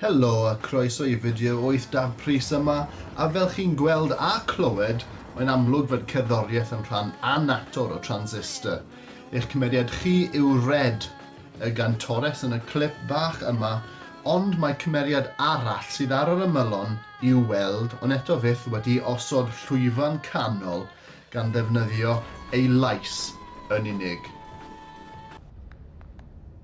Helo a croeso i fideo 8 Daf Prys yma, a fel chi'n gweld a clywed, mae'n amlwg fod cerddoriaeth yn rhan annatod o Transistor. Eich cymeriad chi yw Red, y gantores yn y clip bach yma, ond mae cymeriad arall sydd ar yr ymylon i'w weld ond eto fyth wedi osod llwyfan canol gan ddefnyddio ei lais yn unig.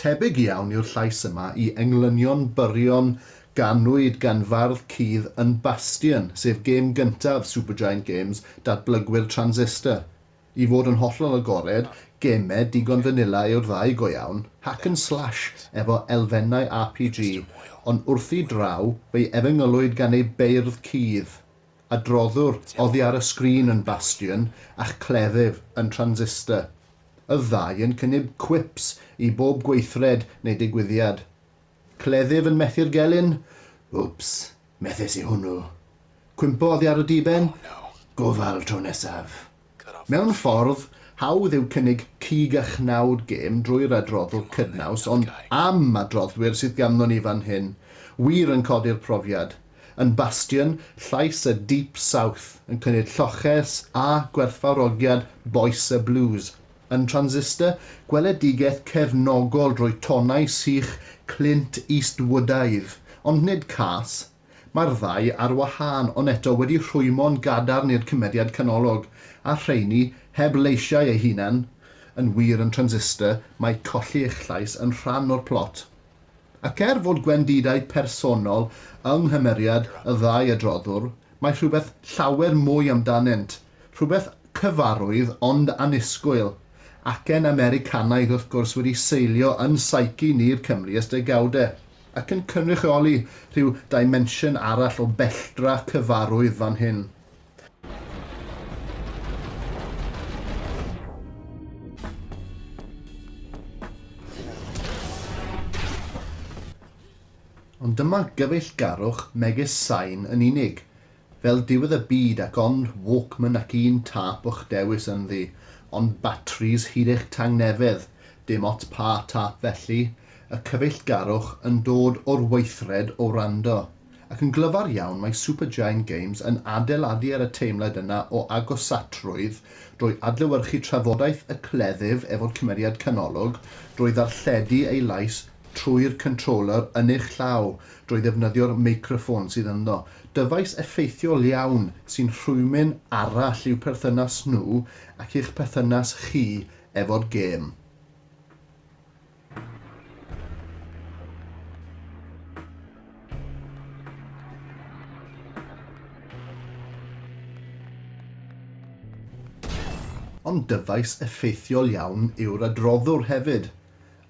Tebyg iawn yw'r llais yma i englynion byrion ganwyd gan fardd cudd yn Bastion, sef gêm gyntaf Supergiant Games, datblygwyr Transistor. I fod yn hollol agored, geme digon fanila yw'r ddau go iawn, hack and slash efo elfennau RPG, ond wrthi draw, fe'i efengylwyd gan ei beirdd cudd. Adroddwr, oddi ar y sgrin yn Bastion a'ch cleddyf yn Transistor. Y ddau yn cynnyb quips i bob gweithred neu digwyddiad. Cleddyf yn methu'r gelyn, Wps, methes i hwnnw. Cwympo oddi ar y diben, Gofal tro nesaf. Mewn ffordd, hawdd yw cynnig cig a chnawd gêm drwy'r adroddwr cydnaws ond am adroddwyr sydd ganddo ni fan hyn, wir yn codi'r profiad, yn bastion llais y Deep South, yn cynnydd lloches a gwerthfawrogiad bois y blues, yn Transistor, gweledigaeth cefnogol drwy tonau sych Clint Eastwoodaidd, ond nid cas, Mae'r ddau ar wahân, ond eto wedi rhwymo'n gadarn i'r cymeriad canolog, a'r rheiny heb leisiau eu hunain, yn wir yn Transistor, mae colli eich llais yn rhan o'r plot. Ac er fod gwendidau personol yng nghymeriad y ddau adroddwr, mae rhywbeth llawer mwy amdanynt, rhywbeth cyfarwydd ond annisgwyl, acen Americanaidd wrth gwrs wedi seilio yn psyche ni'r Cymry ers degawdau. ac yn cynrychioli rhyw dimensiwn arall o belltra cyfarwydd fan hyn. Ond dyma gyfeillgarwch megis sain yn unig, Fel diwedd y byd ac ond walkman ac un tâp o'ch dewis ynddi, ond batris hyd eich tangnefedd, dim ots pa tâp felly, y cyfeillgarwch yn dod o'r weithred o wrando. Ac yn glyfar iawn mae Supergiant Games yn adeiladu ar y teimlad yna o agosatrwydd drwy adlewyrchu trafodaeth y cleddyf efo'r cymeriad canolog, drwy ddarlledu ei lais trwy'r controller yn eich llaw, drwy ddefnyddio'r meicroffôn sydd ynddo, Dyfais effeithiol iawn sy'n rhwymyn arall i'w perthynas nhw ac i'ch perthynas chi efo'r gêm. Ond dyfais effeithiol iawn yw'r adroddwr hefyd.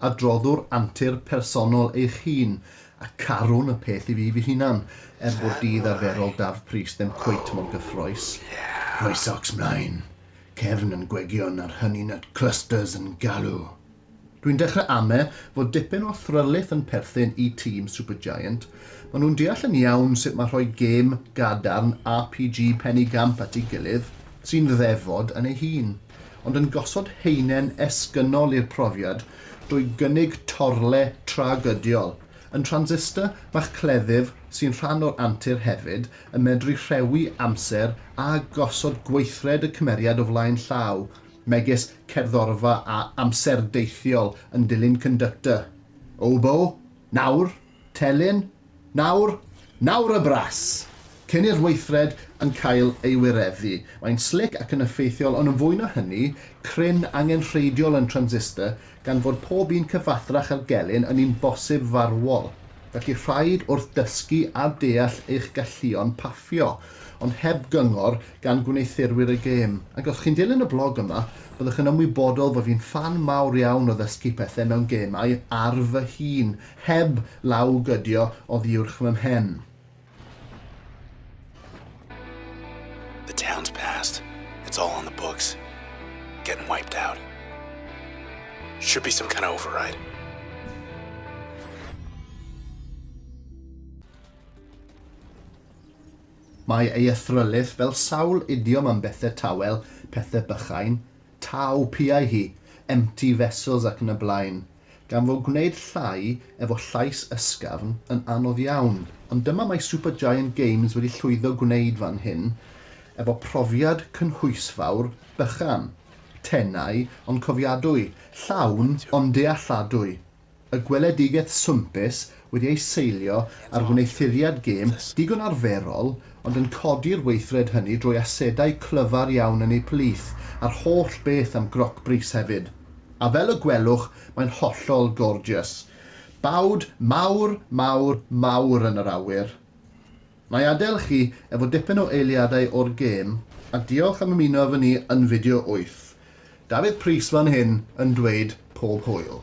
Adroddwr antur personol eich hun, a carwn y peth i fi fy hunan, er bod dydd arferol Dafydd Prys ddim cweit mor gyffrous. Rhoi socs mlaen, cefn yn gwegion a'r honey nut clusters yn galw! Dwi'n dechrau ame fod dipyn o thryllith yn perthyn i tîm Supergiant, maen nhw'n deall yn iawn sut mae rhoi gêm gadarn RPG Pen-y-gamp at ei gilydd, sy'n ddefod yn ei hun. ond yn gosod haenen esgynnol i'r profiad drwy gynnig torle tragydiol. Yn transistor, mae'ch cleddyf, sy'n rhan o'r antur hefyd, yn medru rhewi amser a gosod gweithred y cymeriad o flaen llaw, megis cerddorfa a amser deithiol yn dilyn conductor. Oboe? Nawr? Telyn, Nawr, nawr y bras! Cyn i'r weithred yn cael ei wireddu, mae'n slic ac yn effeithiol ond yn fwy na hynny, cryn, angenrheidiol yn transistor gan fod pob un cyfathrach â'r gelyn yn un bosib farwol. Felly rhaid wrth dysgu a deall eich galluon paffio, ond heb gyngor gan gwneuthurwyr y gêm. Ac os chi'n dilyn y blog yma, byddwch yn ymwybodol fod fi'n ffan mawr iawn o ddysgu pethau mewn gemau ar fy hun, Heb law gydio oddiwrch fy mhen. The town's past, it's all on the books, getting wiped out. Should be some kind of override. Mae ei athrylith fel sawl idiom am bethe tawel, pethe bychain, taw, piau hi, empty vessels ac yn y blaen. gan fo gwneud llai efo llais ysgafn yn anodd iawn, ond dyma mae Supergiant Games wedi llwyddo gwneud fan hyn efo profiad cynhwysfawr, bychan, tenau ond cofiadwy, llawn ond dealladwy, y gweledigaeth swmpus wedi ei seilio ar wneuthuriad gêm digon arferol ond yn codi'r weithred hynny drwy asedau clyfar iawn yn eu plith a'r holl beth am groc brys hefyd. A fel y gwelwch mae'n hollol gorgeous. Bawd mawr, mawr, mawr yn yr awyr. Wna i adael chi efo dipyn o eiliadau o'r gêm a diolch am ymuno efo ni yn fideo wyth. Dafydd Prys fan hyn yn dweud pob hwyl.